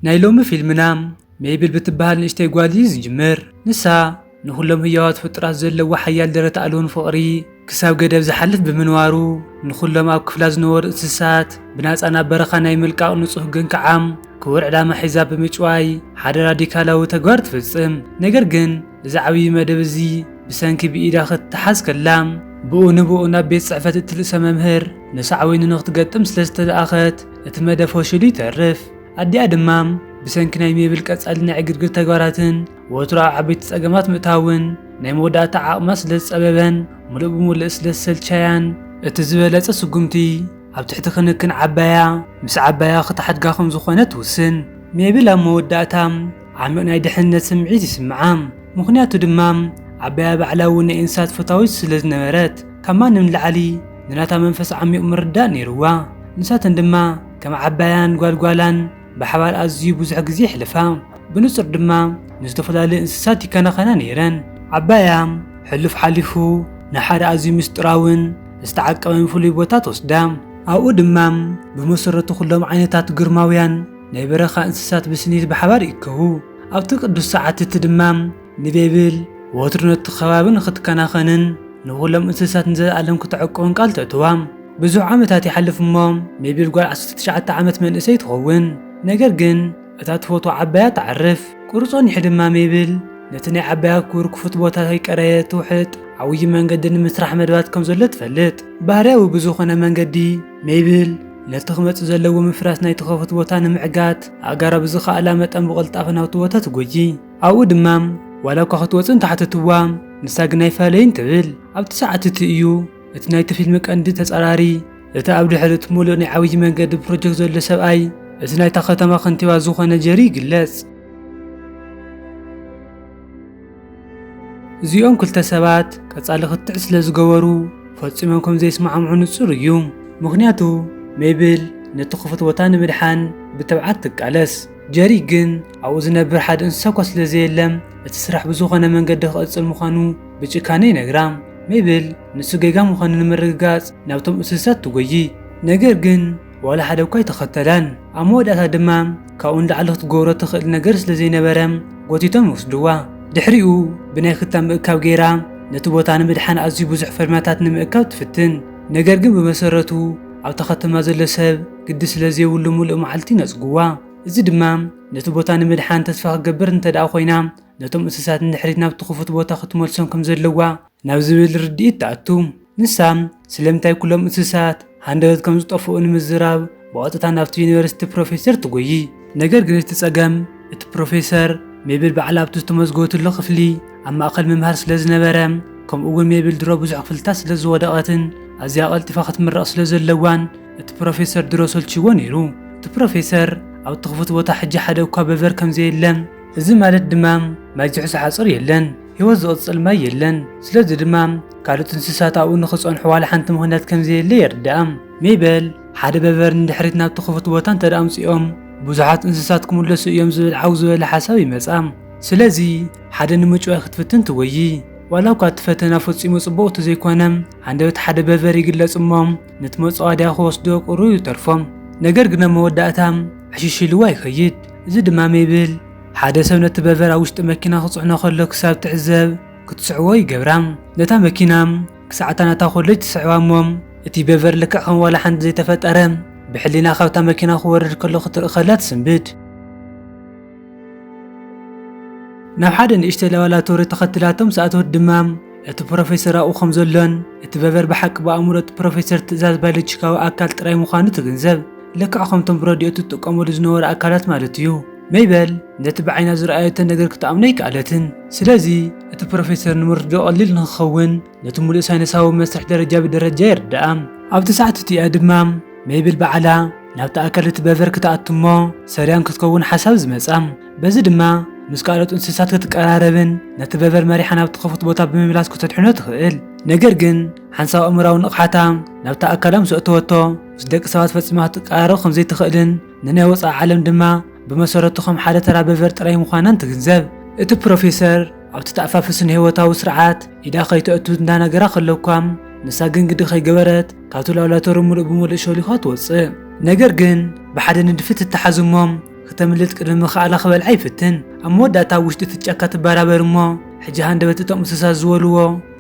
ናይ ሎሚ ፊልምና ሜይብል ብትበሃል ንእሽተይ ጓል እዩ ዝጅምር። ንሳ ንዅሎም ህያዋት ፍጡራት ዘለዎ ሓያል ደረት ኣልቦን ፍቕሪ ክሳብ ገደብ ዝሓልፍ ብምንባሩ፣ ንዅሎም ኣብ ክፍላ ዝነበሩ እንስሳታት ብናጻ ናብ በረኻ ናይ ምልቃቕ ንጹህ ግን ከዓም ክቡር ዕላማ ሒዛ ብምጭዋይ ሓደ ራዲካላዊ ተግባር ትፍጽም። ነገር ግን፣ እዚ ዓብዪ መደብ እዚ ብሰንኪ ብኢዳ ክትተሓዝ ከላ ብኡ ንብኡ ናብ ቤት ጽሕፈት እቲ ርእሰ መምህር ንሳዕቤኑ ንክትገጥም ስለ ዝተለኣኸት እቲ መደብ ፈሽሉ ይተርፍ። ኣዲኣ ድማ ብሰንኪ ናይ ሜብል ቀጻሊ ናይ ዕግርግር ተግባራትን ወትሩ ኣብ ዓበይቲ ጸገማት ምእታውን ናይ መወዳእታ ዓቕማ ስለ ዝጸበበን ምሉእ ብምሉእ ስለ ዝሰልቻያን እቲ ዝበለጸ ስጉምቲ ኣብ ትሕቲ ክንክን ዓባያ ምስ ዓባያ ክትሓድጋ ከም ዝኾነ ትውስን። ሜብል ኣብ መወዳእታ ዓሚቕ ናይ ድሕንነት ስምዒት ይስምዓ፣ ምኽንያቱ ድማ ዓባያ ባዕላ እውን ናይ እንስሳት ፈታዊት ስለ ዝነበረት ካብ ማንም ንላዕሊ ንናታ መንፈስ ዓሚቕ ምርዳእ ነይርዋ። ንሳተን ድማ ከም ዓባያን ጓል ጓላን ብሓባር ኣዝዩ ብዙሕ ግዜ የሕልፋ፣ ብንጹር ድማ ንዝተፈላለዩ እንስሳት ይከናኸና ነይረን። ዓባያ ሕሉፍ ሓሊፉ ንሓደ ኣዝዩ ምስጢራውን ዝተዓቀበን ፍሉይ ቦታ ትወስዳ፣ ኣብኡ ድማ ብመሰረቱ ኩሎም ዓይነታት ግርማውያን ናይ በረኻ እንስሳት ብስኒት ብሓባር ይእከቡ። ኣብቲ ቅዱስ ሰዓት እቲ ድማ ንቤብል ወትሩ ነቲ ከባቢ ንኽትከናኸንን ንዅሎም እንስሳት ንዘለኣለም ክተዕቍብን ቃል ተእትዋ። ብዙሕ ዓመታት ይሓልፍ እሞ ሜቤል ጓል ዓሰርተ ትሽዓተ ዓመት መንእሰይ ትኸውን። ነገር ግን እታ ትፈትዋ ዓባያ ትዓርፍ። ቍሩብ ጸኒሑ ድማ ሜብል ነቲ ናይ ዓባያ ክቡር ክፉት ቦታ ከይቀረየት ትውሕጥ። ዓብዪ መንገዲ ንምስራሕ መደባት ከም ዘሎ ትፈልጥ። ባህርያዊ ብዝዀነ መንገዲ ሜብል ነቲ ክመጽእ ዘለዎ ምፍራስ ናይቲ ከፉት ቦታ ንምዕጋት ኣእጋራ ብዝኸኣላ መጠን ብቕልጣፈ ናብቲ ቦታ ትጎጂ ኣብኡ ድማ ዋላ እኳ ክትወጽእ እንተሓተትዋ ንሳ ግን ኣይፋለይን ትብል ኣብቲ ሰዓት እቲ እዩ እቲ ናይቲ ፊልም ቀንዲ ተጻራሪ እቲ ኣብ ድሕሪ እቲ ምሉእ ናይ ዓብዪ መንገዲ ፕሮጀክት ዘሎ ሰብኣይ እቲ ናይታ ከተማ ከንቲባ ዝኾነ ጀሪ ይግለጽ እዚኦም ክልተ ሰባት ቀጻሊ ክትዕ ስለ ዝገበሩ ፈጺሞም ከም ዘይስማዕምዑ ንጹር እዩ። ምኽንያቱ ሜብል ነቲ ክፉት ቦታ ንምድሓን ብትብዓት ትቃለስ፣ ጀሪ ግን ኣብኡ ዝነብር ሓደ እንስሳ እኳ ስለ ዘየለም እቲ ስራሕ ብዝኾነ መንገዲ ክቕጽል ምዃኑ ብጭካነ ይነግራ። ሜብል ንሱ ጌጋ ምዃኑ ንምርግጋጽ ናብቶም እንስሳት ትጎዪ፣ ነገር ግን ዋላ ሓደ እኳ ኣይተኸተላን። ኣብ መወዳእታ ድማ ካብኡ ንላዕሊ ክትገብሮ እትኽእል ነገር ስለ ዘይነበረ ጎቲቶም ወስድዋ። ድሕሪኡ ብናይ ክታም ምእካብ ገይራ ነቲ ቦታ ንምድሓን ኣዝዩ ብዙሕ ፈርምያታት ንምእካብ ትፍትን። ነገር ግን ብመሰረቱ ኣብ ተኸተማ ዘሎ ሰብ ግዲ ስለ ዘይብሉ ምሉእ መዓልቲ ይነጽግዋ። እዚ ድማ ነቲ ቦታ ንምድሓን ተስፋ ክትገብር እንተድኣ ኮይና ነቶም እንስሳት ንድሕሪት ናብቲ ክፉት ቦታ ክትመልሶም ከም ዘለዋ ናብ ዝብል ርድኢት ትኣቱ። ንሳ ስለምንታይ ኩሎም እንስሳት ሃንደበት ከም ዝጠፍኡ ንምዝራብ ብቐጥታ ናብቲ ዩኒቨርሲቲ ፕሮፌሰር ትጎዪ። ነገር ግን እቲ ጸገም እቲ ፕሮፌሰር ሜብል ባዕላ ኣብቲ ዝተመዝገበትሉ ክፍሊ ኣብ ማእከል ምምሃር ስለ ዝነበረ ከምኡ'ውን ሜብል ድሮ ብዙሕ ክፍልታት ስለ ዝወደቐትን ኣዝያ ቀልጢፋ ክትምረቕ ስለ ዘለዋን እቲ ፕሮፌሰር ድሮ ሰልችይዎ ነይሩ። እቲ ፕሮፌሰር ኣብቲ ክፉት ቦታ ሕጂ ሓደ እኳ በቨር ከም ዘየለ እዚ ማለት ድማ ማይ ዝሕዞ ሓፁር የለን፣ ህይወት ዝቕፅል ማይ የለን፣ ስለዚ ድማ ካልኦት እንስሳት ኣብኡ ንኽፀንሑ ዋላ ሓንቲ ምኽንያት ከምዘየለ የርድኣ። ሜበል፣ ሓደ በበሪ ንድሕሪት ናብቲ ክፉት ቦታ እንተድኣ ኣምፂኦም ብዙሓት እንስሳት ክምለሱ እዮም ዝብል ዓው ዝበለ ሓሳብ ይመፃ። ስለዚ ሓደ ንምጭዋይ ክትፍትን ትጎዪ። ዋላ እኳ እቲ ፈተና ፈፂሙ ፅቡቕ እተዘይኮነ ሃንደበት ሓደ በበሪ ይግለፅ እሞ ነቲ መፃወድያ ክወስዶ ቁሩብ ይተርፎ። ነገር ግን ኣብ መወዳእታ ዕሽሽ ኢልዋ ይኸይድ። እዚ ድማ ሜብል ሓደ ሰብ ነቲ በቨር ኣብ ውሽጢ መኪና ክጽዕኖ ከሎ ክሳብ ትዕዘብ ክትስዕቦ ይገብራ። ነታ መኪና ክሳዕ እታ ናታ ኮለጅ ትስዕባ እሞ እቲ በቨር ልክዕ ከም ዋላ ሓንቲ ዘይተፈጠረ ብሕሊና ካብታ መኪና ክወርድ ከሎ ክትርኢ ከላ ትስንብድ። ናብ ሓደ ንእሽተይ ላባላቶሪ ተኸትላቶ ምስ ኣተወት ድማ፣ እቲ ፕሮፌሰር ኣብኡ ከም ዘሎን እቲ በበር ብሓቂ ብኣእምሮ እቲ ፕሮፌሰር ትእዛዝ ባዮሎጂካዊ ኣካል ጥራይ ምዃኑ ትግንዘብ። ልክዕ ከምቶም ብረድዮ እትጥቀመሉ ዝነበሩ ኣካላት ማለት እዩ። ሜበል ነቲ ብዓይና ዝረኣየቶ ነገር ክትኣምኖ ኣይከኣለትን። ስለዚ፣ እቲ ፕሮፌሰር ንምርድዳኡ ቀሊል ንኽኸውን ነቲ ምሉእ ሳይንሳዊ መስርሕ ደረጃ ብደረጃ የርድኣ። ኣብቲ ሰዓት እቲኣ ድማ ሜብል ባዕላ ናብቲ ኣካል እቲ በበር ክትኣቱ እሞ ሰሪያን ክትከውን ሓሳብ ዝመጻ። በዚ ድማ ምስ ካልኦት እንስሳት ክትቀራረብን ነቲ በቨር መሪሓ ናብቲ ክፉት ቦታ ብምምላስ ክተድሕኖ ትኽእል። ነገር ግን ሓንሳብ ኣእምራዊ ንቕሓታ ናብታ ኣካላ ምስ ኣእተወቶ ምስ ደቂ ሰባት ፈጺማ ክትቀራረብ ከም ዘይትኽእልን ንናይ ወጻኢ ዓለም ድማ ብመሰረቱ ከም ሓደ ተራ በቨር ጥራይ ምዃናን ትግንዘብ። እቲ ፕሮፌሰር ኣብቲ ተኣፋፊ ስነ-ህይወታዊ ስርዓት ኢዳ ከይተእቱ እንዳነገራ ከሎኳ ንሳ ግን ግዲ ከይገበረት ካብቲ ላብላቶሪ ምሉእ ብምሉእ ሸሊዃ ትወጽእ። ነገር ግን ብሓደ ንድፊ ትተሓዝ እሞ ክተምልጥ ቅድሚ ምኽኣላ ክበልዓ ይፍትን ኣብ መወዳእታ ኣብ ውሽጢ እቲ ጫካ ትበራበር እሞ ሕጂ ሃንደበት እቶም እንስሳ ዝበልዎ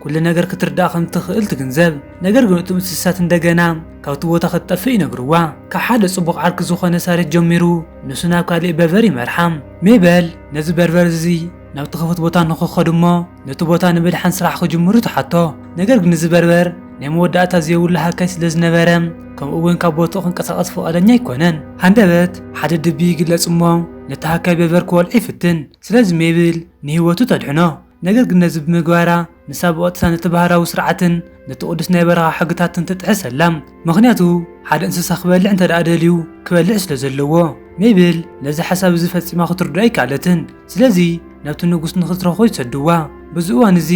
ኩሉ ነገር ክትርዳእ ከም እትኽእል ትግንዘብ ነገር ግን እቶም እንስሳት እንደገና ካብቲ ቦታ ክትጠፍእ ይነግርዋ ካብ ሓደ ጽቡቕ ዓርኪ ዝኾነ ሳሬት ጀሚሩ ንሱ ናብ ካሊእ በርበር ይመርሓ ሜበል ነዚ በርበር እዚ ናብቲ ክፉት ቦታ ንኽኸዱ እሞ ነቲ ቦታ ንምድሓን ስራሕ ክጅምሩ ትሓቶ። ነገር ግን እዚ በርበር ናይ መወዳእታ ዘይብሉ ሃካይ ስለ ዝነበረ ከምኡ እውን ካብ ቦትኡ ክንቀሳቐስ ፍቓደኛ ኣይኮነን። ሃንደበት ሓደ ድቢ ይግለጽ እሞ ነቲ ሃካይ በርበር ክወልዖ ይፍትን። ስለዚ ሜብል ንህይወቱ ተድሕኖ። ነገር ግን ነዚ ብምግባራ ንሳብኦት ነቲ ባህራዊ ስርዓትን ነቲ ቅዱስ ናይ በረኻ ሕግታትን ትጥሕስ ኣላ ምኽንያቱ ሓደ እንስሳ ክበልዕ እንተ ደኣ ደልዩ ክበልዕ ስለ ዘለዎ ሜብል ነዚ ሓሳብ እዚ ፈጺማ ክትርድኦ ኣይከኣለትን ስለዚ ናብቲ ንጉስ ንኽትረኽቦ ይሰድዋ በዚ እዋን እዚ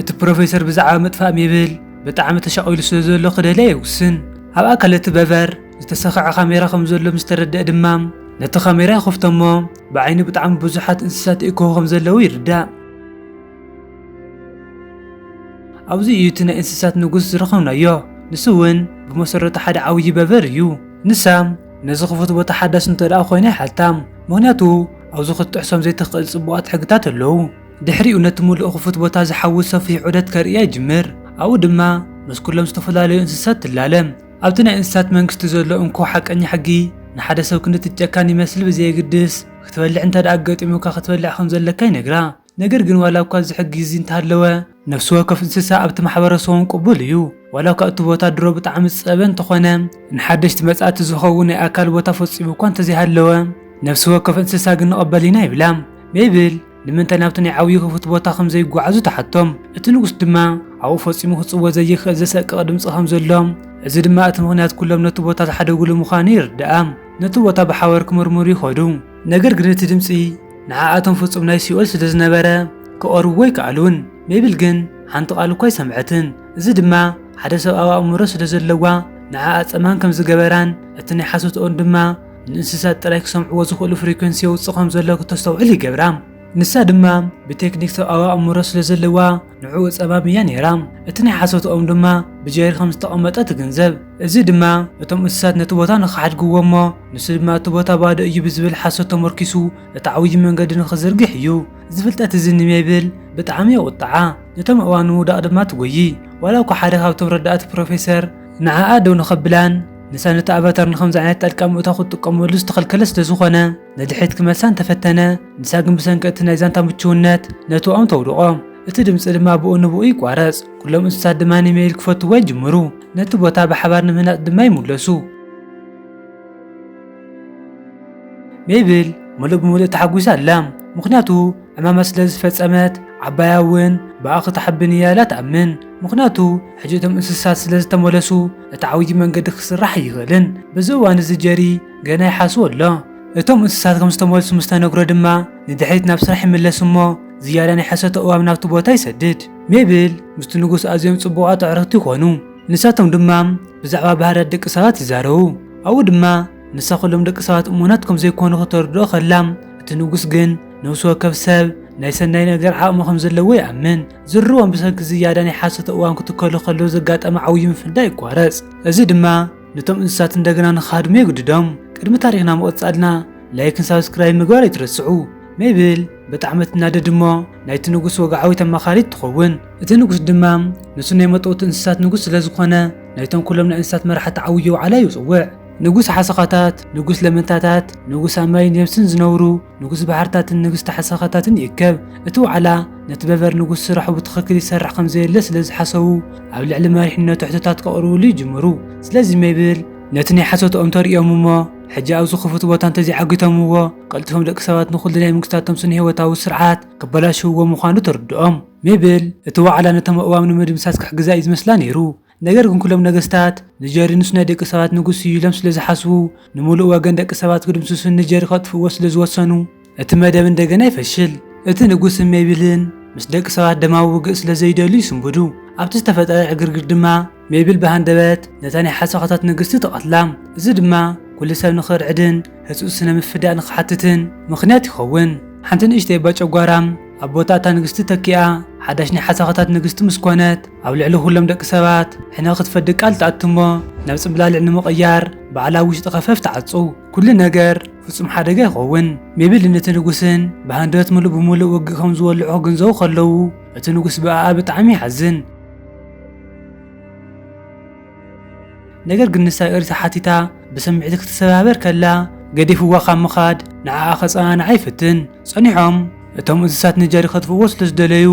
እቲ ፕሮፌሰር ብዛዕባ ምጥፋእ ሜብል ብጣዕሚ ተሻቒሉ ስለ ዘሎ ክደልያ ይውስን ኣብ ኣካል እቲ በቨር ዝተሰኽዐ ካሜራ ከም ዘሎ ምስ ተረድአ ድማ ነቲ ካሜራ ይኸፍቶ እሞ ብዓይኑ ብጣዕሚ ብዙሓት እንስሳት ይእከቡ ከም ዘለዉ ይርዳእ ኣብዚ እዩ እቲ ናይ እንስሳት ንጉስ ዝረኸብናዮ ንሱ እውን ብመሰረቱ ሓደ ዓብዪ በበር እዩ ንሳ ነዚ ክፉት ቦታ ሓዳስ እንተ ደኣ ኮይና ይሓታ ምክንያቱ ኣብዚ ክትጥሕሶም ዘይትኽእል ጽቡቓት ሕግታት ኣለዉ ድሕሪኡ ነቲ ምሉእ ክፉት ቦታ ዝሓዊ ሰፊሕ ዑደት ከርእያ ይጅምር ኣብኡ ድማ ምስ ኩሎም ዝተፈላለዩ እንስሳት ትላለ ኣብቲ ናይ እንስሳት መንግስቲ ዘሎ እንኮ ሓቀኛ ሕጊ ንሓደ ሰብ ክንዲ ትጨካን ይመስል ብዘየግድስ ክትበልዕ እንተ ደኣ ኣገጢሙካ ክትበልዕ ከም ዘለካ ይነግራ ነገር ግን ዋላኳ እዚ ሕጊ እዚ እንተሃለወ ነፍሲ ወከፍ እንስሳ ኣብቲ ማሕበረሰቦም ቅቡል እዩ። ዋላኳ እቲ ቦታ ድሮ ብጣዕሚ ዝፀበበ እንተኾነ ንሓደሽቲ መፃእቲ ዝኸውን ናይ ኣካል ቦታ ፈፂሙ እኳ እንተዘይሃለወ ነፍሲ ወከፍ እንስሳ ግን ንቕበል ኢና ይብላ። ሜብል ንምንታይ ናብቲ ናይ ዓብዩ ክፉት ቦታ ከም ዘይጓዓዙ ትሓቶም። እቲ ንጉስ ድማ ኣብኡ ፈፂሙ ክፅወ ዘይኽእል ዘሰቅቕ ድምፂ ከም ዘሎ እዚ ድማ እቲ ምኽንያት ኩሎም ነቲ ቦታ ዝሓደግሉ ምዃኑ የርድኣ። ነቲ ቦታ ብሓባር ክምርምሩ ይኸዱ። ነገር ግን እቲ ድምጺ ንዓኣቶም ፍጹም ናይ ሲኦል ስለ ዝነበረ ክቐርብዎ ኣይከኣሉን። ሜብል ግን ሓንቲ ቓል እኳ ኣይሰምዐትን፣ እዚ ድማ ሓደ ሰብኣዊ ኣእምሮ ስለ ዘለዋ ንዓኣ ጸማም ከም ዝገበራን እቲ ናይ ሓሶትኦን ድማ ንእንስሳት ጥራይ ክሰምዕዎ ዝኽእሉ ፍሪኮንሲ የውጽእ ከም ዘሎ ክተስተውዕል ይገብራ። ንሳ ድማ ብቴክኒክ ሰብኣዊ ኣእምሮ ስለ ዘለዋ ንዕኡ ጸባብ እያ ነይራ። እቲ ናይ ሓሶትኦም ድማ ብጀሪ ከም ዝተቐመጠ ትግንዘብ። እዚ ድማ እቶም እንስሳት ነቲ ቦታ ንኽሓድግዎ እሞ ንሱ ድማ እቲ ቦታ ባዶ እዩ ብዝብል ሓሶት ተመርኲሱ እቲ ዓብዪ መንገዲ ንኽዝርግሕ እዩ። እዚ ፍልጠት እዚ ንሜብል ብጣዕሚ የቝጥዓ። ነቶም ኣእዋም ንምውዳቕ ድማ ትጐዪ። ዋላ እኳ ሓደ ካብቶም ረዳእቲ ፕሮፌሰር ንዓኣ ደው ንኸብላን ንሳ ነቲ ኣቫታር ንኸምዚ ዓይነት ጣልቃ ምእታው ክትጥቀመሉ ዝተኸልከለ ስለ ዝዀነ፣ ንድሕሪት ክመልሳ እንተፈተነ፣ ንሳ ግን ብሰንኪ እቲ ናይ ዛንታ ምቹውነት ነቲ ኦም ተውድቖ። እቲ ድምጺ ድማ ብኡ ንብኡ ይቋረጽ፣ ኩሎም እንስሳት ድማ ንሜይል ክፈትውዋ ይጅምሩ፣ ነቲ ቦታ ብሓባር ንምህናጽ ድማ ይምለሱ። ሜብል ምሉእ ብምሉእ ተሓጒሳ ኣላ፣ ምኽንያቱ ዕማማ ስለ ዝፈጸመት። ዓባያ እውን ብኣ ክትሓብን እያ ኢላ ትኣምን፣ ምኽንያቱ ሕጂ እቶም እንስሳት ስለ ዝተመለሱ እቲ ዓብዪ መንገዲ ክስራሕ ኣይኽእልን። በዚ እዋን እዚ ጀሪ ገና ይሓስቦ ኣሎ። እቶም እንስሳት ከም ዝተመልሱ ምስ ተነግሮ ድማ ንድሕሪት ናብ ስራሕ ይምለስ እሞ ዝያዳ ናይ ሕሰቶ እባብ ናብቲ ቦታ ይሰድድ። ሜብል ምስቲ ንጉስ ኣዝዮም ጽቡቓት ኣዕሩኽቲ ይኾኑ። ንሳቶም ድማ ብዛዕባ ባህርያት ደቂ ሰባት ይዛረቡ። ኣብኡ ድማ ንሳ ኩሎም ደቂ ሰባት እሙናት ከም ዘይኮኑ ከተርድኦ ከላ፣ እቲ ንጉስ ግን ነፍሲ ወከፍ ሰብ ናይ ሰናይ ነገር ዓቕሚ ከም ዘለዎ ይኣምን። ዝርርቦም ብሰንኪ ዝያዳ ናይ ሓሰቶ እባብ ክትከሉ ከለዉ ዘጋጠመ ዓብዩ ምፍንዳእ ይቋረጽ። እዚ ድማ ንቶም እንስሳት እንደገና ንክሃድሙ የግድዶም። ቅድሚ ታሪኽና ምቕጻልና ላይክን ሳብስክራይብ ምግባር ኣይትረስዑ። ሜብል ብጣዕሚ ትናደድ እሞ ናይቲ ንጉስ ወግዓዊት ኣማኻሪት ትኸውን። እቲ ንጉስ ድማ ንሱ ናይ መጠውቲ እንስሳት ንጉስ ስለ ዝኾነ ናይቶም ኩሎም ናይ እንስሳት መራሕቲ ዓውዮ ዋዕላ ይጽውዕ። ንጉስ ሓሰኻታት፣ ንጉስ ለመንታታት፣ ንጉስ ኣብ ማይን የብስን ዝነብሩ፣ ንጉስ ባሕርታትን ንግስቲ ሓሰኻታትን ይእከብ። እቲ ዋዕላ፣ ነቲ በቨር ንጉስ ስራሑ ብትኽክል ይሰርሕ ከም ዘየለ ስለ ዝሓሰቡ፣ ኣብ ልዕሊ መሪሕነቱ ሕቶታት ከቕርብሉ ይጅምሩ። ስለዚ ሜብል፣ ነቲ ናይ ሓሶትኦም ተርእዮም እሞ ሕጂ ኣብዚ ክፉት ቦታ እንተ ዘይዓጊቶምዎ፣ ቀልጢፎም ደቂ ሰባት ንኹሉ ናይ መንግስታቶም ስነ-ህይወታዊ ስርዓት ከበላሽውዎ ምዃኑ ትርድኦም። ሜብል፣ እቲ ዋዕላ ነቶም ኣእዋም ንምድምሳስ ክሕግዛ እዩ ዝመስላ ነይሩ። ነገር ግን ኩሎም ነገስታት ንጀሪ ምስ ናይ ደቂ ሰባት ንጉስ እዩ ኢሎም ስለ ዝሓስቡ ንምሉእ ወገን ደቂ ሰባት ክድምስሱን ንጀሪ ከጥፍእዎ ስለ ዝወሰኑ እቲ መደብ እንደገና ይፈሽል። እቲ ንጉስ እም ሜይብልን ምስ ደቂ ሰባት ደማዊ ውግእ ስለ ዘይደልዩ ይስንብዱ። ኣብቲ ዝተፈጠረ ዕግርግር ድማ ሜይብል ብሃንደበት ነታ ናይ ሓሳኻታት ንግስቲ ትቐትላ። እዚ ድማ ኩሉ ሰብ ንኽርዕድን ህጹጽ ስነ ምፍዳእ ንኽሓትትን ምኽንያት ይኸውን። ሓንቲ ንእሽተይ እባ ጨጓራ ኣብ ቦታ እታ ንግስቲ ተኪኣ ሓዳሽ ናይ ሓሳኸታት ንግስቲ ምስ ኮነት ኣብ ልዕሊ ኩሎም ደቂ ሰባት ሕነ ክትፈዲ ቃል ትኣቱ እሞ ናብ ጽምብላልዕ ንምቕያር ባዕላ ኣብ ውሽጢ ከፈፍ ትዓጹ። ኩሉ ነገር ፍጹም ሓደጋ ይኸውን። ሜብልን እቲ ንጉስን ብሃንደበት ምሉእ ብምሉእ ውግእ ከም ዝወልዑ ክግንዘቡ ከለዉ እቲ ንጉስ ብኣኣ ብጣዕሚ ይሓዝን። ነገር ግን ንሳ ይቕሪታ ሓቲታ ብስምዒት ክትሰባበር ከላ ገዲፍዋ ካብ ምኻድ ንዓኣ ከጸናንዓ ይፍትን። ጸኒሖም እቶም እንስሳት ንጀሪ ከጥፍእዎ ስለ ዝደለዩ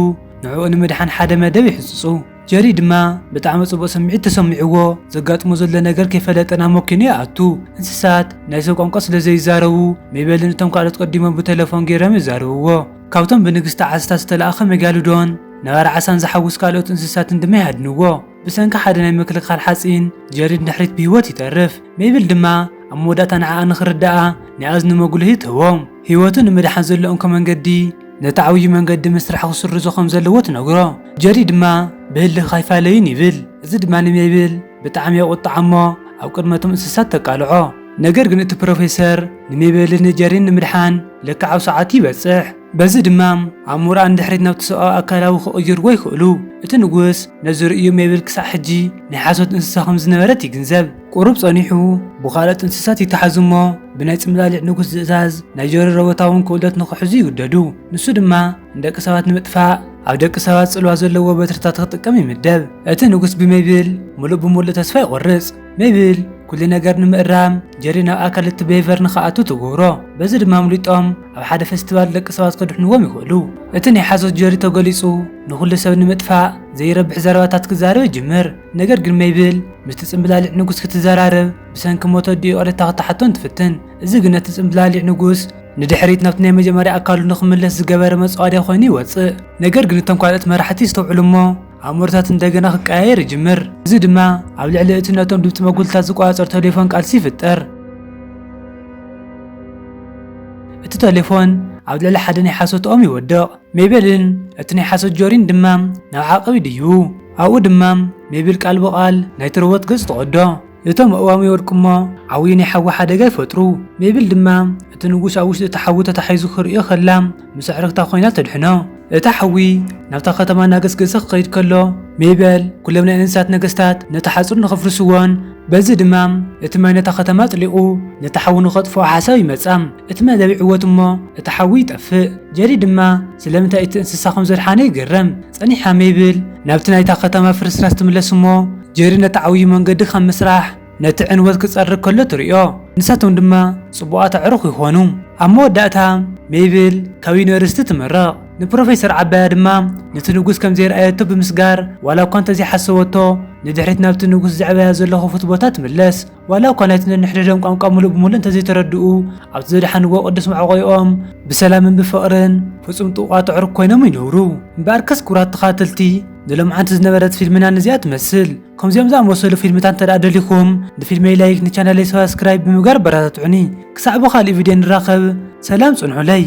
ንዕኡ ንምድሓን ሓደ መደብ ይሕጽጹ። ጀሪ ድማ ብጣዕሚ ጽቡቕ ስምዒት ተሰሚዕዎ ዘጋጥሞ ዘሎ ነገር ከይፈለጠ ናብ መኪኑ ይኣቱ። እንስሳት ናይ ሰብ ቋንቋ ስለ ዘይዛረቡ ሜበልን እቶም ካልኦት ቀዲሞም ብተለፎን ገይሮም የዛርብዎ። ካብቶም ብንግስቲ ዓሳታት ዝተላእከ መጋልዶን ነባሪ ዓሳን ዝሓውስ ካልኦት እንስሳትን ድማ ይሃድንዎ። ብሰንኪ ሓደ ናይ ምክልኻል ሓጺን ጀሪ ንድሕሪት ብህይወት ይተርፍ። ሜብል ድማ ኣብ መወዳእታ ንዓኣ ንኽርድኣ ናይ ኣዝኑ መጕልሂ ትህቦ። ህይወቱ ንምድሓን ዘሎ እንኮ መንገዲ ነቲ ዓብዩ መንገዲ ምስራሕ ክስርዞ ከም ዘለዎ ትነግሮ። ጀሪ ድማ ብህልኽካ ኣይፋለይን ይብል፣ እዚ ድማ ንሜብል ብጣዕሚ የቝጥዓ እሞ ኣብ ቅድሚ እቶም እንስሳት ተቃልዖ። ነገር ግን እቲ ፕሮፌሰር ንሜበልን ንጀሪን ንምድሓን ልክዕ ኣብ ሰዓቱ ይበጽሕ። በዚ ድማ ኣብ ሞርኣ ንድሕሪት ናብቲ ሰብኣዊ ኣካላዊ ክቕይርዎ ይኽእሉ። እቲ ንጉስ ነዚ ርእዩ ሜብል ክሳዕ ሕጂ ናይ ሓሶት እንስሳ ከም ዝነበረት ይግንዘብ። ቁሩብ ጸኒሑ ብኻልኦት እንስሳት ይተሓዙ እሞ ብናይ ጽምላሊዕ ንጉስ ዝእዛዝ ናይ ጀሪ ሮቦታውን ክእለት ንኽሕዙ ይውደዱ። ንሱ ድማ ንደቂ ሰባት ንምጥፋእ ኣብ ደቂ ሰባት ጽልዋ ዘለዎ በትርታት ክጥቀም ይምደብ። እቲ ንጉስ ብሜብል ምሉእ ብምሉእ ተስፋ ይቖርጽ። ሜብል ኩሉ ነገር ንምእራም ጀሪ ናብ ኣካል እቲ ቤቨር ንኽኣቱ ትገብሮ፣ በዚ ድማ ኣምሊጦም ኣብ ሓደ ፈስቲቫል ደቂ ሰባት ከድሕንዎም ይኽእሉ። እቲ ናይ ሓሶት ጀሪ ተገሊጹ ንኹሉ ሰብ ንምጥፋእ ዘይረብሕ ዘረባታት ክዛረብ ይጅምር። ነገር ግን ሜብል ምስቲ ጽምብላሊዕ ንጉስ ክትዘራረብ ብሰንኪ ሞት ኣዲኡ ይቕሬታ ክትሓቶን ትፍትን። እዚ ግን ነቲ ጽምብላሊዕ ንጉስ ንድሕሪት ናብቲ ናይ መጀመርያ ኣካሉ ንኽምለስ ዝገበረ መጻወድያ ኮይኑ ይወጽእ። ነገር ግን እቶም ካልኦት መራሕቲ ይስተውዕሉ እሞ ኣእምሮታት እንደገና ክቀያየር ይጅምር። እዚ ድማ ኣብ ልዕሊ እቲ ነቶም ድምፂ መጉልታት ዝቆፃፀር ቴሌፎን ቃልሲ ይፍጠር። እቲ ቴሌፎን ኣብ ልዕሊ ሓደ ናይ ሓሶት ኦም ይወድቕ። ሜቤልን እቲ ናይ ሓሶት ጆሪን ድማ ናብ ዓቐብ ይድይቡ። ኣብኡ ድማ ሜቤል ቃል ብቓል ናይቲ ሮቦት ገፅ ትቐዶ። እቶም ኣእዋም ይወድቁ እሞ ዓውዪ ናይ ሓዊ ሓደጋ ይፈጥሩ። ሜብል ድማ እቲ ንጉስ ኣብ ውሽጢ እቲ ሓዊ ተታሒዙ ክርእዮ ከላ ምስ ኣዕርኽታ ኮይና ተድሕኖ። እቲ ሓዊ ናብታ ከተማ እናገስገሰ ክኸይድ ከሎ፣ ሜበል ኩሎም ናይ እንስሳት ነገስታት ነቲ ሓጹር ንኸፍርስዎን በዚ ድማ እቲ ማይ ነታ ከተማ ኣጥሊቑ ነቲ ሓዊ ንኸጥፍኦ ሓሳብ ይመጻ። እቲ መደብ ይዕወት እሞ እቲ ሓዊ ይጠፍእ። ጀሪ ድማ ስለምንታይ እቲ እንስሳ ከም ዘድሓነ ይግረም። ጸኒሓ ሜብል ናብቲ ናይታ ከተማ ፍርስራስ ትምለስ እሞ ጀሪ ነቲ ዓብዩ መንገዲ ካብ ምስራሕ ነቲ ዕንወት ክጸርግ ከሎ ትርእዮ። ንሳቶም ድማ ጽቡቓት ኣዕሩኽ ይኾኑ። ኣብ መወዳእታ ሜብል ካብ ዩኒቨርሲቲ ትምረቕ። ንፕሮፌሰር ዓባያ ድማ ነቲ ንጉስ ከም ዘይርኣየቶ ብምስጋር ዋላ እኳ እንተዘይሓሰበቶ ንድሕሪት ናብቲ ንጉስ ዘዕበያ ዘሎ ክፉት ቦታ ትምለስ። ዋላ እኳ ናይቲ ነንሕድሕዶም ቋንቋ ምሉእ ብምሉእ እንተዘይተረድኡ፣ ኣብቲ ዘድሓንዎ ቅዱስ መዕቆይኦም ብሰላምን ብፍቕርን ፍጹም ጥቡቓት ኣዕሩኽ ኮይኖም ይነብሩ። እምበኣርከስ ክቡራት ተኸታተልቲ፣ ንሎምዓንቲ ዝነበረት ፊልምና ነዚኣ ትመስል። ከምዚኦም ዝኣመሰሉ ፊልምታት እንተድኣ ደሊኹም፣ ንፊልመይ ላይክ፣ ንቻነለይ ሳብስክራይብ ብምግባር ኣበረታትዑኒ። ክሳዕ ብኻልእ ቪድዮ ንራኸብ፣ ሰላም ጽንሑለይ።